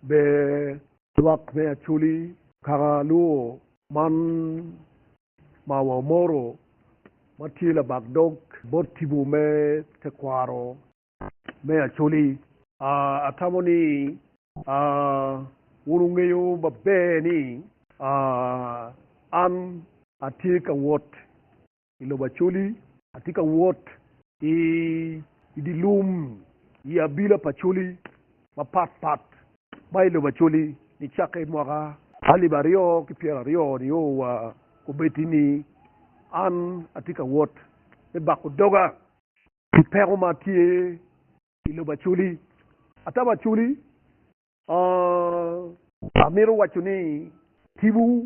Ber lwak me Acholi kaka luwo man ma wamoro ma tye labak dog bot tipo me tekwaro me Acholi. Atamo ni wun wungeyo maber ni an atye ka wot i lobo Acholi. Atye ka wot i dye lum i abila pa Acholi mapat pat ma i lobo Acholi nicakke i mwaka alip aryo ki pyero aryo nio wa kobeddi ni an atye ka wot me bako doga pi peko ma tye i lobo Acholi. Ata wa Acholi, amito waco ni tipo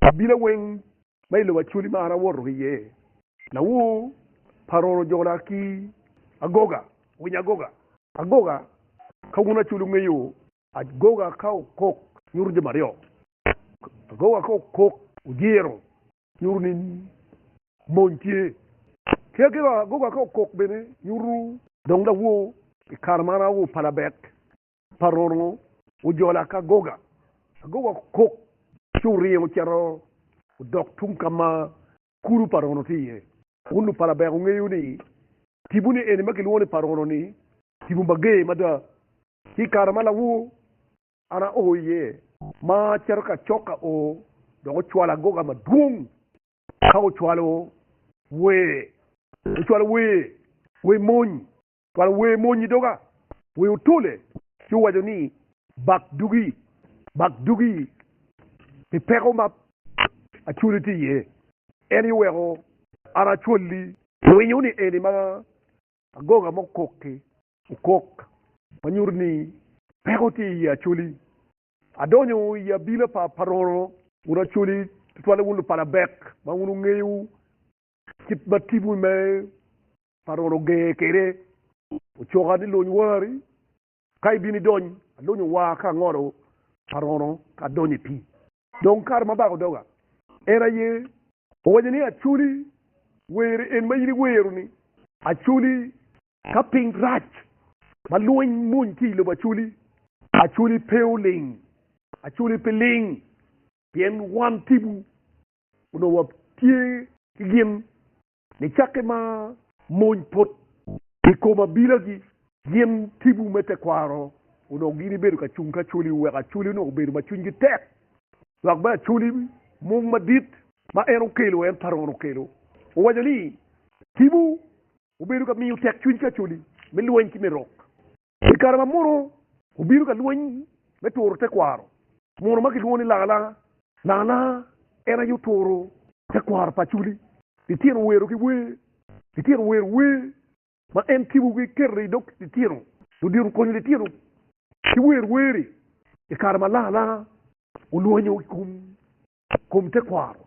Abila weng ma i lobo Acholi mara awoto ki iye, Lawur pa Roro ojona ki agoga, winyo agoga. Agoga ka wun Acholi wunge yo. Agoga ka okok nyuto jami aryo, agoga ka okok ojiro nyuto ni mony tye, ki agoga ka okok bene nyuto dong lawur. I kare mara lawur pa labek pa Ronu ojola ki agoga, agoga okok ci oringo ocito odok tung ka ma kulu pa Ronu tye iye. Wun lupala ber wungeyo ni tibuni eni ma kilwongo ni pa Ronu-ni tipo mager mada. Ki i kare ma lawor an ao iye ma acito ki acok ka o, dok ocwalo agoga madwong ka ocwalo wer, ocwalo wer, wer mony. twal wer mony i doga, wer otole ci owaco ni, Bak dugi, bak dugi pi peko ma acwali tye iye, en aye oweko an acwali. Winyo ni eni ma agoga ma okok-ki okok ma nyuto ni peko tye iye acwali. Adonyo i abila pa Paroro, wun acwali, tutwalle wun lupala bek ma wun wungeyo kit ma timwu me Parol ogee kede ocoka ni lony wari ka ibino idony. Alonyo waa ka angolo parono ka adonyo i pii. Dong kare ma abako doga, en aye owaco ni, Acholi, were en ma in iwero-ni. Acholi, ka piny rac ma lweny mony ki i lobo Acholi, Acholi pe oling. Acholi pe ling, pien wan tipo onongo watye ki gin Nicakke ma mony put i kom abilagi, gin tibu me tekwaro onongo gin ibedo ka cung ki Acholi, oweko Acholi onongo obedo ma cwinygi tek. Dok bene Acholi mung madit ma en okelo, en Paron okelo, owaco ni, Tibu obedo ka miyo tekcwiny ki Acholi me lweny ki me rok. I kare ma mono obino ka lweny me turo tekwaro mono ma kilwongo ni Langalanga, Langalanga en aye oturo tekwaro pa Acholi litino wero ki wer, litino wero wer ma en kibo ki keto i dog litino, ludito okonyo litino ki wer wer-ri i kare ma Langalanga olwonyo i kom tekwaro.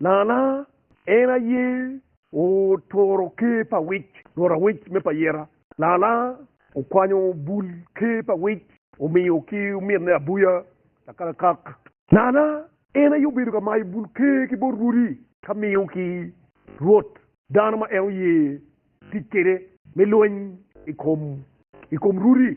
Nana, en aye oturo ker pa wic, rwot awic me payera. Nana, okwanyo bul ker pa wic, omiyo ki omitne abuya akakakak. Nana, en aye obedo ka mayo bul ker ki bot rwodi, ka miyo ki rwot dano ma en oye tic kwede me lweny i kom rwodi.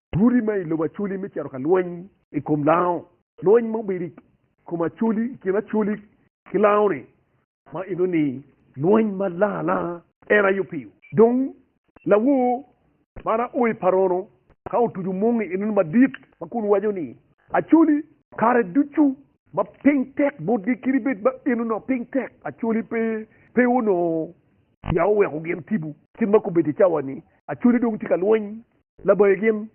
Tuti ma i lobo Acholi me cito ka lweny i kom lango. Lweny ma obedo i kom Acholi, i kin Acholi ki lango-ni ma eno ni lweny ma lang alanga en aye opiyo. Dong lawor man a o i parono ka otuco mungi eno ni madit ma kun waco ni, Acholi! Kare ducu ma piny tek botgi kadi bed ma eno ni piny tek Acholi pe, pe onongo ya oweko gin tipo. Kit ma kobeddi i cawa-ni, Acholi dong tye ka lweny labayi gin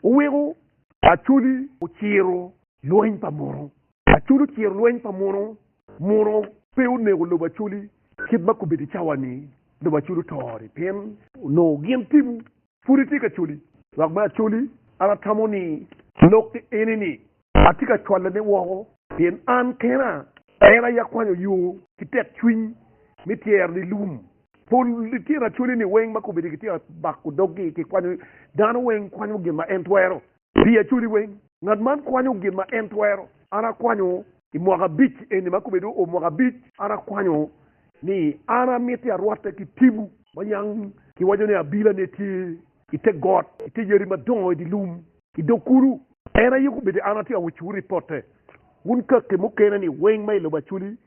oweko Acholi ociro lweny pa Muno. Acholi ociro lweny pa Muno. Muno pe onego lobo Acholi kit ma kobedo i cawa-ni, lobo Acholi oto-ri pien onongo gin tipo pud etye ki Acholi. Lok me Acholi, An atamo ni lok eni-ni Atye ka cwalone woko. Pien an kena en aye akwanyo yo ki tekcwiny me tyero lilum. Pol lityen acwaleni weng ma kome-ni gitye ka bako doggi ki kwanyo. Dano weng kwanyo gin ma en twero. Pi acwali weng, ngat man kwanyo gin ma en twero. An akwanyo i mwaka abic eni ma kome dong oo mwaka abic, an akwanyo ni an amiti arwatte ki tibu ma yang kiwaco ni abila ne tye i te got, i te yadi madongo i dye lum. i dog kulu. En aye gubedo an atye awecciwu ripotte wun kaki mukene ni weng ma i lobo Acoli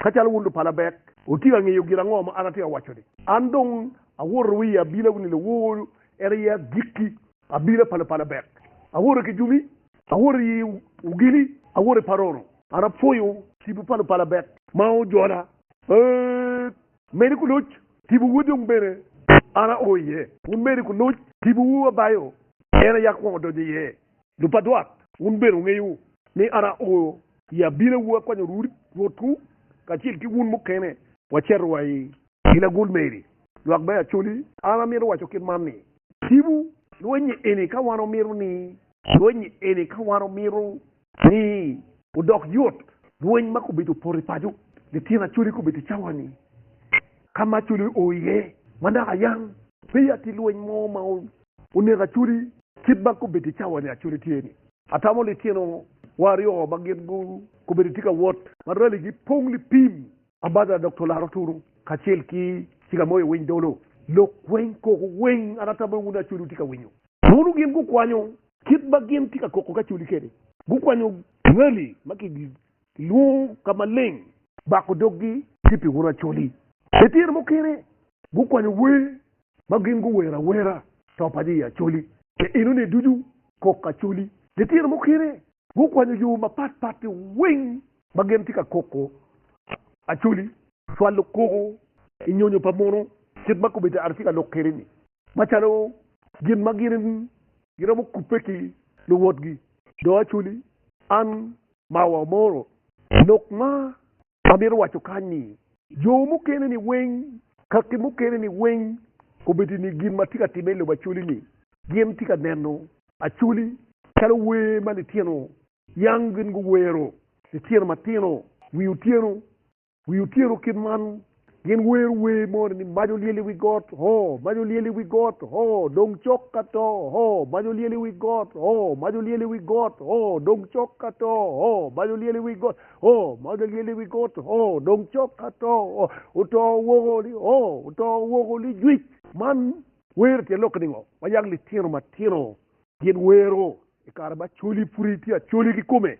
ka calo wun lupala bek wutye ka ngeyo gin ango ma an atye ka waco-ni. An dong awoto wa i abila wun i lowor, en aye agikki abila pa lupala bek. Awoto ki jumi, awoto i ogili, awoto i paroro. An apwoyo tipo pa lupala bek ma ojola. Ee, Medi ku luc, Tipo wu dong bene an ao iye. Wun medi ku luc, tipo wu abayo, en aye akwongo donyo iye. Lupadwat, wun bene wungeyo ni an ao i abina wu akwanyo Rwotwu kacel ki wun mukene waceto wa i i lagul meri. Lwak bene acoli, an amito waco kit man ni, tipo lweny-nyi eni ka wan omito ni, lweny-nyi eni ka wan omito Rii, Odok yot lweny ma kobedo opoto i paco lityen acoli kobedo i cawa-ni ka ma acoli oo iye ma naka yang peya tye lweny mo ma oneko acoli kit ma kobedo i cawa-ni acoli tye-ni. Atamo litino wa aryo ma gin kobedo tye ka wot ma raligi pong lipim ma badda dok to laro tunu kacel ki ciga moyo winy dolo lok weny koko weny an atamo ni wun acoli wutye ka winyo. Mono gin gukwanyo Kit ma gin tye ka koko kacoli kwede. Gukwanyo ngali ma kilwongo ka maleng. Bako doggi ki pi wun acoli. I tyen mukene gukwanyo wer ma gin guwero awera to pa jo i acoli. Pi enoni ducu kok acoli. I tyen mukene gukwanyo yo mapat pat weng ma gin tye ka koko acoli. Cwalo koko i nyonyo pa muno kit ma kobeddi Arcika lok kwede ni. macalo gin ma gin giromo kubbe ki luwotgi, dong aculi an mawa omoro. Lok ma amito waco kany ni, jo mukene ni weng kaki mukene ni weng kobedo ni gin ma tye ka timme i lobo aculi ni gin tye ka neno aculi calo wer ma litino yang gin guwero litino matino wi otyeno. Wi otyero kit man, Gin wero wer moni ni, Mac olyel i wi got, hoo! Mac olyel i wi got, hoo! Dong cok ka to, hoo! Mac olyel i wi got, hoo! Mac olyel i wi got, hoo! Dong cok ka to, hoo! Mac olyel i wi got, hoo! Mac olyel i wi got, hoo! Dong cok ka to, hoo! Oto woko ni, hoo! Oto woko ni, jwic! Man wer tye lok ningo? Ma yag litino matino gin wero i kare ma Acholi pud tye Acholi kikome.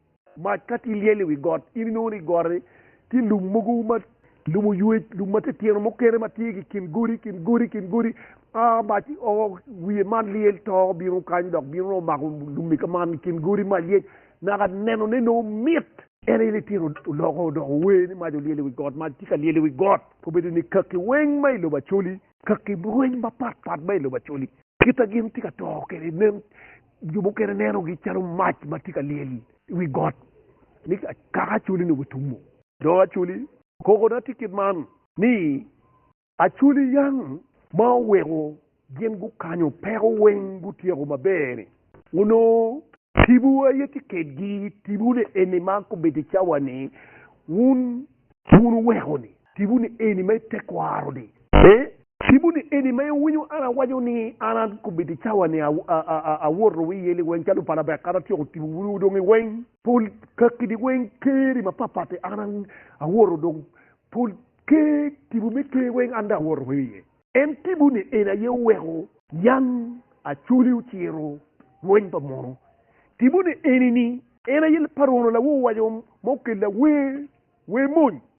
Mac ka tye lyel i wi got, in inongo ni i got-ti tye lum mogo ma lum oywer, lum ma titino mukene ma tye ki i kin godi, i kin godi, i kin godi. A mac o wiye man lyel to bino kany dok bino nongo mako lum-mi ka man i kin godi, mac lyec, naka nenone nongo mit. En aye litino oloko odoko wer ni, Mac olyel i wi got, mac tye ka lyel i wi got. Obedo ni kaki weng ma i lobo acoli. Kaki weng mapatpat ma i lobo acoli. Kit ma gin tye ka to kwede nen Jo mukene nenogi calo mac ma tye ka lyel i wi got, ni kaka acholi ni otumo. Dong acholi kokona tye kit man ni, Acholi yang ma oweko gin gukanyo peko weng gutyeko maber-ri, onongo tipo aye tye kedgi, tipone eni ma kobedo cawa ni wun wun wuweko-ni. Tipo ni eni ma i tekwaro ni ee. Tipo ni eni ma i winyo an awaco ni an a kobedi i cawa ni a woto wi yeli weng calo pala bek an atyeko tipo wunu odong i weng. Pol kaki ni weng ker i ma papati an a woto dong pol ker tipo me ker weng an dong a woto wi iye. En tipo ni eni aye oweko yan Acholi ociro lweny pa mono. Tipo ni eni ni en aye Parono lawo waco ma okella wer, wer mony.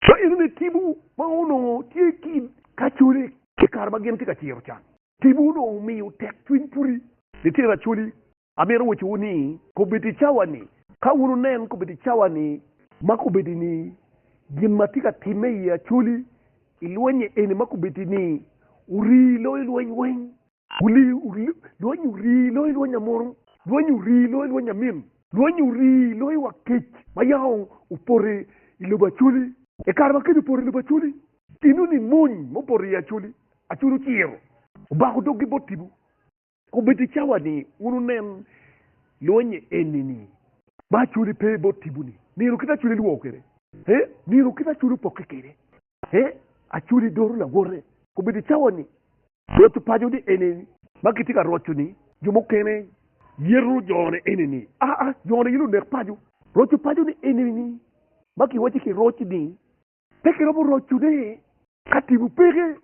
Ka enene tipo ma onongo tye ki i kacone i kare ma gin tye ka ciro can. Tipo onongo omiyo tek cwiny pudi. Litino Acholi, amito wacowu ni kobeddi i cawa-ni, ka wun wunen kobeddi i cawa-ni ma kobeddi ni gin ma tye ka timme i Acholi i lweny-nye eni ma kobeddi ni wurii loyo lweny weng, Lwonyi ori loyo lwonyi amunu, lwonyi ori loyo lwonyi amin, lwonyi ori loyo wa kec ma yaka opoto i lobo Acoli. I kare ma kec opoto i lobo Acoli, tinno ni mony ma opoto iye Acoli, Acoli ociro, obako doggi bot tipo, kun bed i cawa ni wun wunen lwonye eni-ni ma Acoli pe bot tipo-ni, nino kite Acoli lwor kwede, nino kite Acoli opokke kwede. He, Acoli doro lawote. Kobedo i cawa ni Rwot opaco ni eni ma kitye ka roco ni jo mukene yeto jone eni ni, aa, jone aye lunek paco. Rwot opaco ni eni ni ma kiwaco ki roc ni pe kiromo roco ne ka timo peke.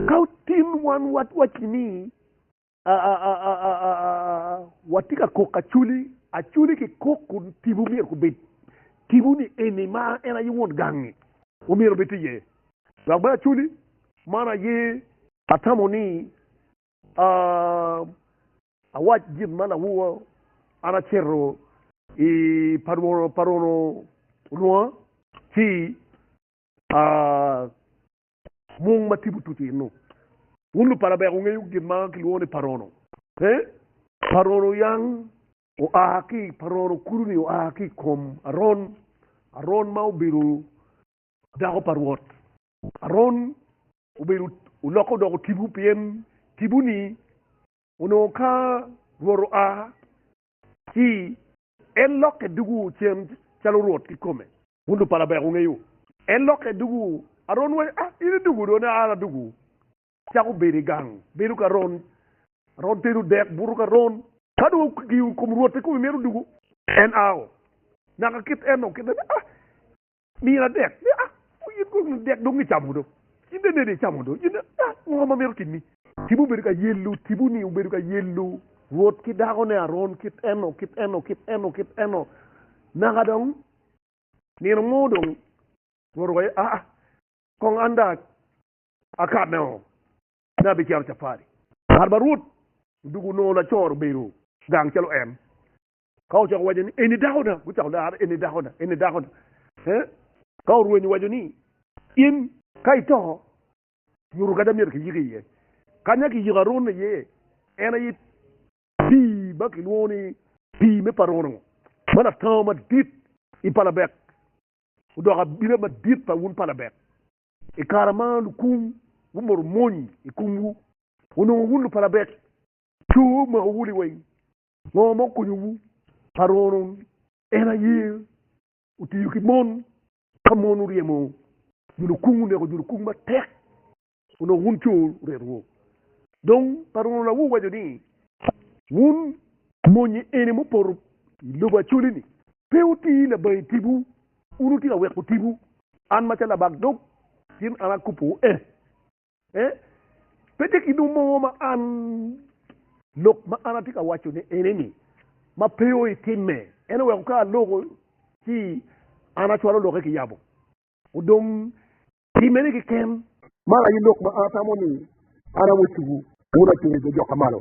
Ka otin wan watwaci ni watye ka kok aculi aculi ki kok kun tipo myero kubed tipo ni eni ma en aye won gangi ma myero obed tye iye dok bene aculi man aye atamo ni awac gin ma lawowa an acito i pa rwono olwonga ci Mung ma tipo tuco i Nuk. Wun lupala ber wungeyo gin ma kilwongo ni Parono. Pe. Parono yang oa ki i Parono, kulu-ni oa ki i kom Aron, Aron ma obedo dako pa Rwot. Aron obedo, olokke odoko tipo, pien tipo-ni onongo ka Rwot oa, ci en lokke dugo cen calo Rwot kikome. Wun lupala ber wungeyo. En lokke dugu Aron wa, A, in idugu do ne? An adugu. Cako bedo i gang, bedo ki Aron. Aron tenu dek, buto ki Aron. Ka dong wukiyo i kom Rwot, pe kome myero odugu. En ao, naka kit en dong kite ni, A, mira dek. Ni, A, o, in kong ni dek dong icamo do. In dong inene icamo do. In dong, A, ngo ma myero otimmi? Tipo obedo ka yelo, tipo-ni obedo ka yelo Rwot ki dakone Aron kit eno, kit eno, kit eno, kit eno, naka dong Nino mo dong oruko aye, aa, kong an dong akane oo, me abicero capari. Ngat ma Rwot odugo onongo lacor obedo gang calo en. Ka ocako waco ni, Eni dakona, gucako lare, Eni dakona, eni dakona. Ee, ka orwenyo waco ni, In, ka ito, nyuto kadi amyero kiyiki iye. Kanya kiyiko Arone iye, en aye Pii ma kilwongo ni Pii me Parono ma latango madit i Palabek odoko abila madit pa wun Palabek. I kare ma lukung gumoto mony i komwu, onongo wun Lupalabek coo omakowu liweng. Ngo ma okonyowu? Parono en aye otiyo ki mon ka mon oryemo jo lukung, oneko jo lukung matek. Onongo wun co retwu, dong pe romo la wuwaco ni, 'Wun mony eni mupoto i lobo acoli-ni, pe wuti labangi tipo, wun wutye ka weko tipo. An macalo labak dog cen an akobbiwu ee, pe tye kit mo mo ma an lok ma an atye ka wacone eni-ni ma pe oitimme. Ento weko ka aloko ci an acwalo lokke kiyabo. Odong pi mene keken. Man aye lok ma atamo ni an awoco-wu. Wun atunge jo jokka malo.